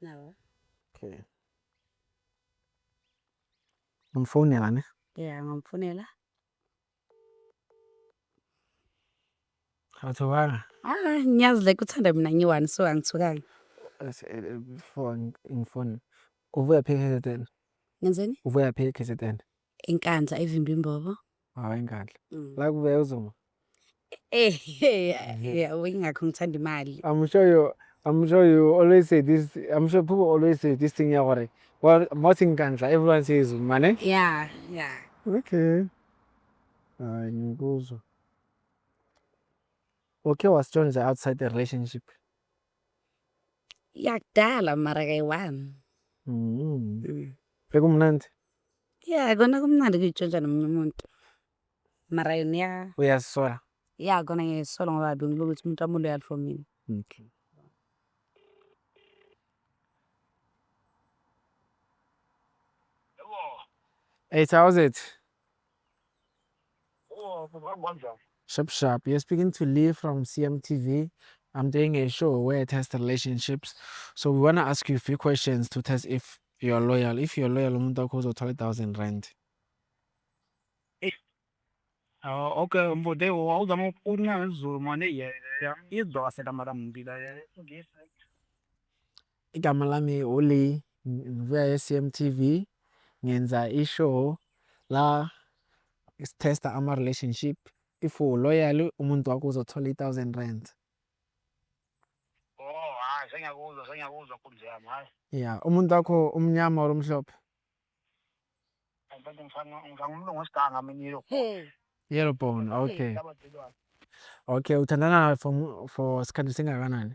Nawa. Okay. Umfonela ne? Yeah, ngamfonela. Awuthukanga? Ah, ngiyazi like uthanda mina ngiwani so angithukanga. Before ngifone. Uvuya phi KZN? Ngenzeni? Uvuya phi KZN? Inkandla evimba imbobo. Hawu inkandla. Mm. La kuvela uZuma. Eh, yabo ingakho ngithanda imali. I'm sure you I'm sure you always say this I'm sure people always say this thing ya gore well most inkandla everyone says Zuma ne? Yeah, yeah. Okay. Hayi ngikuzwa. Okay was joined outside the relationship. Yakudala mara kayi-one. Mm. Mm. Bekumnandi. Ya kona kumnandi ukuyitshontsha nomunye umuntu. Mara yona iya. Uyazisola. Ya kona ngiyazisola ngoba bengilokhu ukuthi umuntu wami u-loyal for mina. Okay. Eight hours it. Sharp sharp. You're speaking to Lee from CMTV. I'm doing a show where I test relationships. So we want to ask you a few questions to test if you're loyal. If you're loyal, umuntu wakho uzothola 1000 rand. Ah, okay, mfode wawuzama ukuqina ngezulu mane yena. Izwa waselamala mbi la. Igama lami uLee ngibuya e-CMTV ngenza i-show la sithesta ama-relationship if u-loyal umuntu wakho uzothola i-thousand rand. Oh hayi sengiyakuzwa sengiyakuzwa nkunzi yami hayi. Ya umuntu wakho umnyama or umhlophe? Mfethu ngifana ngifana umlungu wesiganga mina yellow. Yellow bone okay. Okay uthandana for for isikhathi singakanani?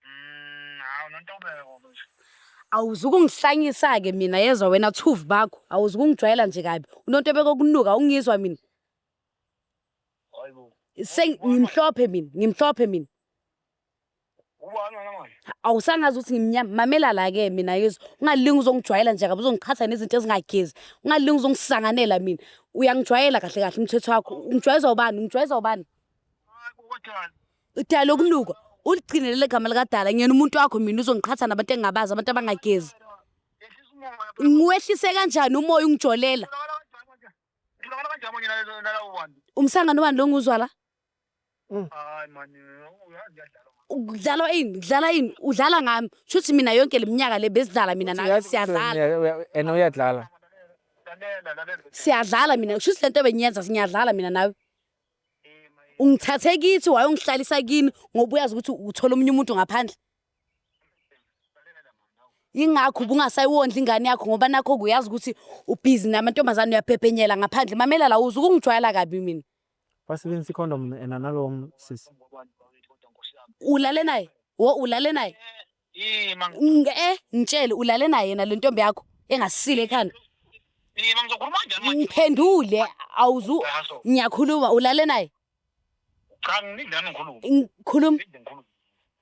Hawu nontobeko manje. Awuzukungihlanyisa-ke mina yezwa wena thuvi bakho. Awuzukungijwayela nje kabi. Unontobeko okunuka ungizwa mina. Hayibo. Seng- Ngimhlophe mina, ngimhlophe mina. Ubani wena manje? awusangazi ukuthi ngimnyama mamela la-ke mina yezwa ungalingi uzongijwayela nje kabi uzongiqhatha nezinto ezingagezi ungalingi uzongisanganela mina uyangijwayela kahle kahle umthetho wakho ungijwayezwa ubani ungijwayezwa ubani Hayi kodwa. Udala ukunuka, uligcine leli gama likadala. Ngiyena umuntu wakho mina uzongiqhatha nabantu engingabazi, abantu abangagezi. Ngiwehlise kanjani umoya ungijolela? Umsangano wani lo nguzwa la? Kudlalwa ini? Kudlala ini? Udlala ngami. Shuthi mina yonke le minyaka le besidlala mina nawe. Uyazi- Siyadlala. uya- uya- and uyadlala Siyadlala mina. Shuthi le nto bengiyenza ngiyadlala mina nawe. ungithathe kithi wayongihlalisa kini ngoba uyazi ukuthi uthola omunye umuntu ngaphandle yingakho ubungasayondla ingane yakho ngoba nakho kuyazi ukuthi ubhizi namantombazane uyaphephenyela ngaphandle mamela la uze ukungijwayela kabi mina basebenzisa ikhondom ena nalowo sisi ulale naye wo ulale naye Yee ma Nge ngitshele ulale naye yena le ntombi yakho engasile ekhanda. yee ma ngizokhuluma kanjani manje? Ngiphendule awuzu Ngaso. ngiyakhuluma ulale naye. Cha ngilinde nami ngikhulume. Ngikhuluma Ngilinde ngikhulume.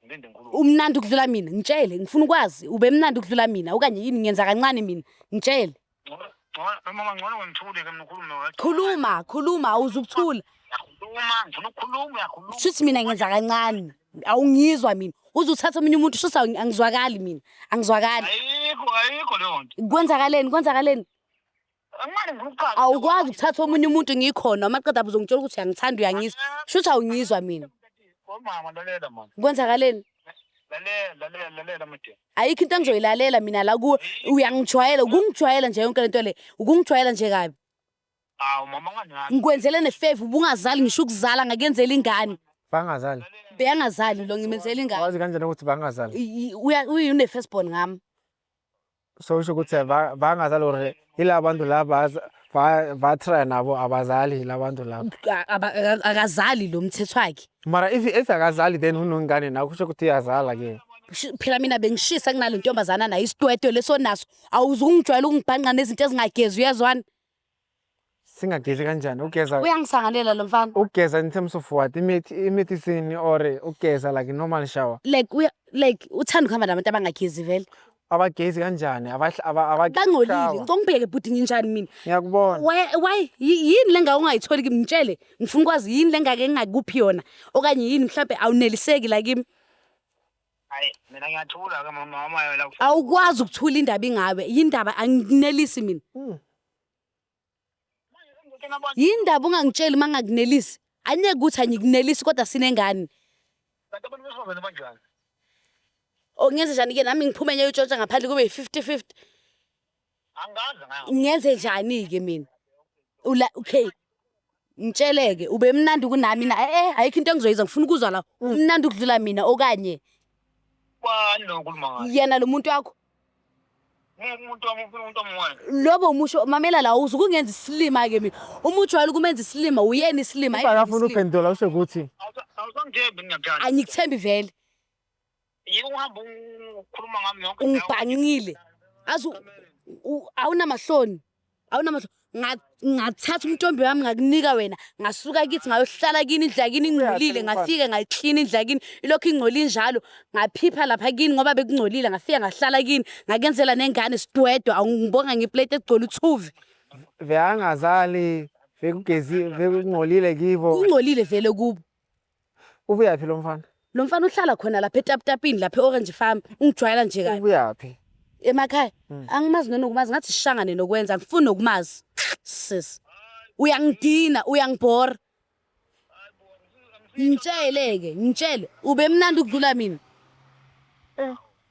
Ngilinde ngikhulume. umnandi ukudlula mina ngitshele ngifuna ukwazi ube mnandi ukudlula mina okanye yini ngenza kancane mina ngitshele Khuluma, khuluma awuze ukuthula. Shuthi mina ngenza kancane. Awungizwa mina. Uze uthathe omunye umuntu shuthi angizwakali mina. Angizwakali. Ayikho, ayikho leyo nto. Kwenzakaleni, kwenzakaleni. Awukwazi ukuthatha omunye umuntu ngikhona amaqeda abuze ngitshela ukuthi uyangithanda uyangizwa. Shuthi awungizwa mina. Kwenzakaleni? Lalela, lalela, lalela mdeni. Ayikho into engizoyilalela mina la kuwe uyangijwayela ukungijwayela nje yonke lento le ukungijwayela nje kabi Awu mama unganaki. ngikwenzele nefeva ubungazali ngisho ukuzala ngakenzela ingane bangazali beyangazali lo ngimenzela ingane wazi kanjani ukuthi bangazali I- i- uya- uyi- une-first born ngami so usho ukuthi ba- bangazali or Yila bantu laba vatrya nabo abazali yila bantu laba. A- aba- aka- akazali lo mthetho wakhe Mara if if akazali then unongane nawe kusho ukuthi iyazala ke. Shi- phela mina bengishisa kunale ntombazana nayo isitwetwe lesonaso awuzungijwayela ukungibhanqa nezinto ezingagezi uyezwana singagezi kanjani ugeza uyangisangalela lo mfana ugeza in terms of what imithi imithi sini or ugeza like normal shower like uya like uthanda ukuhamba nabantu abangagezi vele abagezi kanjani Abah- aba- aba- bangcolile shower. ngicela ungibheke bhuti nginjani mina ngiyakubona why why yi- yini le ngake ungayitholi kimi ngitshele ngifuna ukwazi yini le ngake ngingakuphi yona okanye yini mhlawumbe awuneliseki la kimi hayi mina ngiyathula ke mama wamayo la awukwazi ukuthula indaba ingawe yindaba anginelisi mina Hmm. yini ndaba ungangitsheli uma ngakunelisi anyeke ukuthi angikunelisi kodwa sinengane kanti abantu besifazane banjani o ngenze njani-ke nami ngiphume nyeyo utshontsha ngaphandle kube yi-fifty fifty angazi ngayo ngenze njani-ke mina Ula- okay Ngitsheleke ubemnandi kunami na eh eh ayikho into engizoyiza ngifuna ukuzwa la umnandi ukudlula mina okanye Bani lo ukhuluma ngaye? yena lo muntu wakho Uma umuntu wami ufuna umuntu omwayo. lobo umusho mamela la uze ukungenza isilima ke mina uma ujwayele ukumenza isilima uyena isilima Uma hhayi mina akafuni isilima. ukuphendula usho ukuthi Awusa- Awusangithembi ngingakuthanda. angikuthembi vele Yeke uhamba ukhuluma ngami yonke indawo. ungibhangile azi u- u- awunamahloni awunamahloni Nga- ngathatha umtombi wami ngakunika wena ngasuka kithi ngayohlala kini indlu yakini ingcolile ngafike ngayiklina indlu yakini ilokhu ingcoli injalo ngaphipha lapha kini ngoba bekungcolile ngafika ngahlala kini ngakenzela nengane sidwedwa awungibonga ngeplate egcwele uthuvi Vekangazali, vekugezi, vekungcolile kibo. kungcolile vele kubo Ubuyaphi lo mfana? Lo mfana uhlala khona lapha etaputapini lapha e-Orange Farm. Ungijwayela nje kabi. Ubuyaphi? Emakhaya. Hmm. Angimazi nenokumazi ngathi sishangane nokwenza ngifuni nokumazi. Sis. Uyangidina, uyangibhora. Ngitshele-ke, ngitshele. Ubemnandi ukudlula mina. Eh.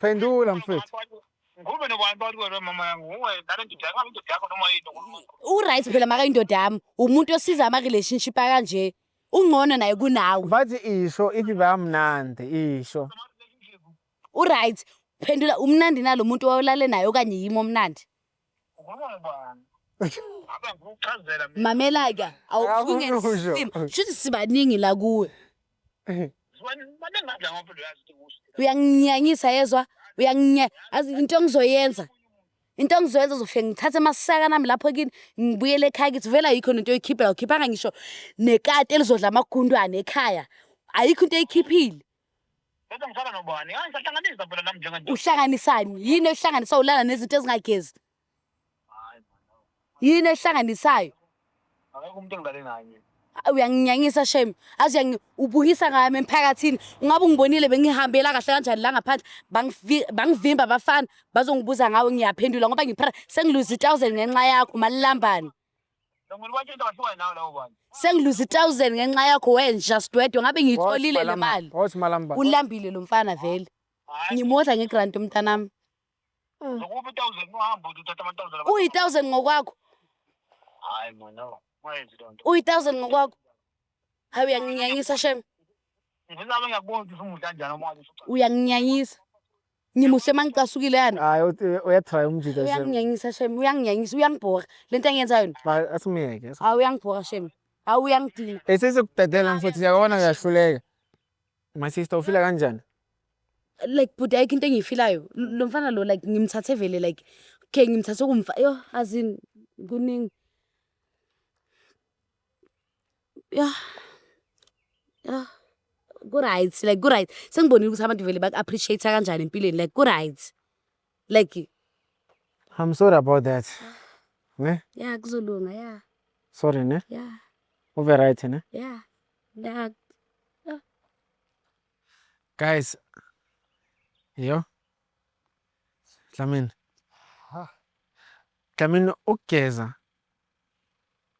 Phendula mfethu. Ngube nobani bathi wena mama yangu nguwe nale ndoda yakho indoda yakho noma yini uNkulunkulu. Uright phela maka indoda yami umuntu osiza ama relationship akanje ungcono naye kunawe. Bathi isho ithi bamnandi isho. Uright phendula umnandi nalo muntu owalale naye okanye yimi omnandi. mamela-ke awufungesimo shuthi sibaningi la kuwe uyanginyanyisa yezwa uyanginya azi into engizoyenza into engizoyenza uzofike ngithathe amasaka nami lapho kini ngibuyele ekhaya kithi vele ayikho nento oyikhiphela ukhiphanga ngisho nekati elizodla amagundwane ekhaya ayikho into eyikhiphile Bese ngisala nobani? Hayi sahlanganisa phela nami njengendoda. Uhlanganisani? Yini ehlanganisa ulala nezinto ezingagezi? Hayi mama. Yini ehlanganisayo? Akekho umuntu engilale naye mina. Ah, Uyanginyanyisa shame. Azi uyangi ubukisa ngami emphakathini. Ungabe ungibonile bengihambela kahle kanjani la ngaphandle. Bangivi- Bangivimba abafana bazongibuza ngawe ngiyaphendula ngoba ngiphara sengiluze 1000 ngenxa yakho malambane. sengiluza i-thousand ngenxa yakho wenja sidwedwe ngabe ngiyitholile le mali Wothi malamba. ulambile lo mfana vele ngimodla ngegranti umntanami Nokuphi thousand uhamba uthi uthatha amathousand abantu. uyi-thousand ngokwakho Hayi mona. Wayenzi loo nto. uyi-thousand ngokwakho Hayi uyanginyanyisa shem. Ngizame ngiyakubona ukuthi ufuna kanjani uma uthi Uyanginyanyisa. Ngimuhle mangicasukile yani. Hayi uthi- uyatry umjita shem. Uyanginyanyisa shem, uyanginyanyisa, uyangibhora. Lento engiyenzayo ni. Ba- Asimyeke. asim- Hayi uyangibhora shem. Hayi uyangidina. Eh sesokudedela mfowethu siyabona uyahluleka. My sister ufila kanjani? Like bhuti ayikho into engiyifilayo. L- Lo mfana lo like ngimthathe vele like okay ngimthathe kumfa. Yo azin kuningi. Yah, yah, ku-right like ku-right, sengibonile ukuthi abantu vele baku-appreciate-a kanjani empilweni like ku-right. Like I'm sorry about that. Ne? yah kuzolunga yah Sorry ne? yah Ube right ne? yah yah Guys. Yo. Dlamini. Ha. Dlamini ukugeza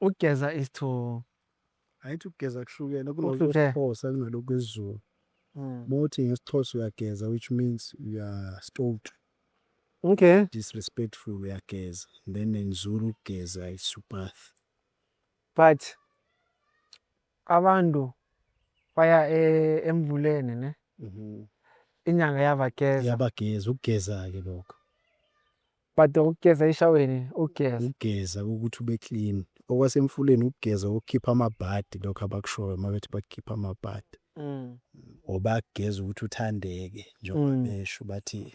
Ukugeza is to Ayithi ukugeza kuhlukene Ukuhluke. kunokwesixhosa kunalokwezulu mm. mawuthi ngesixhosa uyageza which means uyastota okay disrespectful uyageza then in zulu ukugeza is ubath but abantu baya e- emvuleni ne inyanga yabageza yabageza ukugeza-ke lokho But ukugeza eshaweni ukugeza. Ukugeza ukuthi ube clean. Okwasemfuleni ukugeza ukukhipha amabhadi lokho abakushoyo mabethi bakukhipha amabhadi. Mm. Or bakugeza ukuthi uthandeke njengoba Mm. besho bathi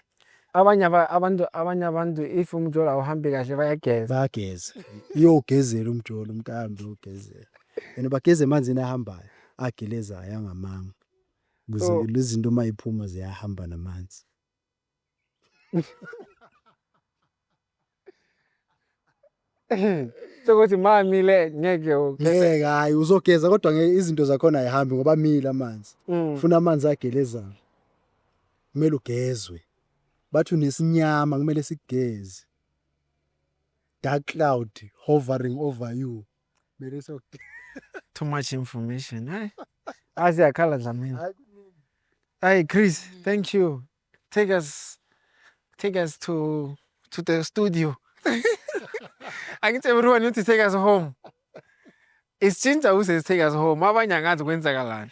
Abanye aba- abantu abanye abantu if umjolo awuhambi kahle bayageza. bayageza. Iyogezela umjolo umntambi uyogezela. And bageza emanzini ahambayo, agelezayo angamanga. Ukuze So- izinto uma iphuma ziyahamba namanzi. sokuthi mamile ngeke ngeke hayi uzogeza kodwa ngeke izinto zakhona ayihambi ngoba amile amanzi mm. funa amanzi agelezayo kumele ugezwe bathi unesinyama kumele sigeze dark cloud hovering over you Mele so too much information. Hayi. Azi yakhala Dlamini. hayi kuningi. Hey Chris, thank you. Take us take us to to the studio. Angithi everyone need to take us home. Isitshintsha uze take us home. Abanye angazi kwenzakalani.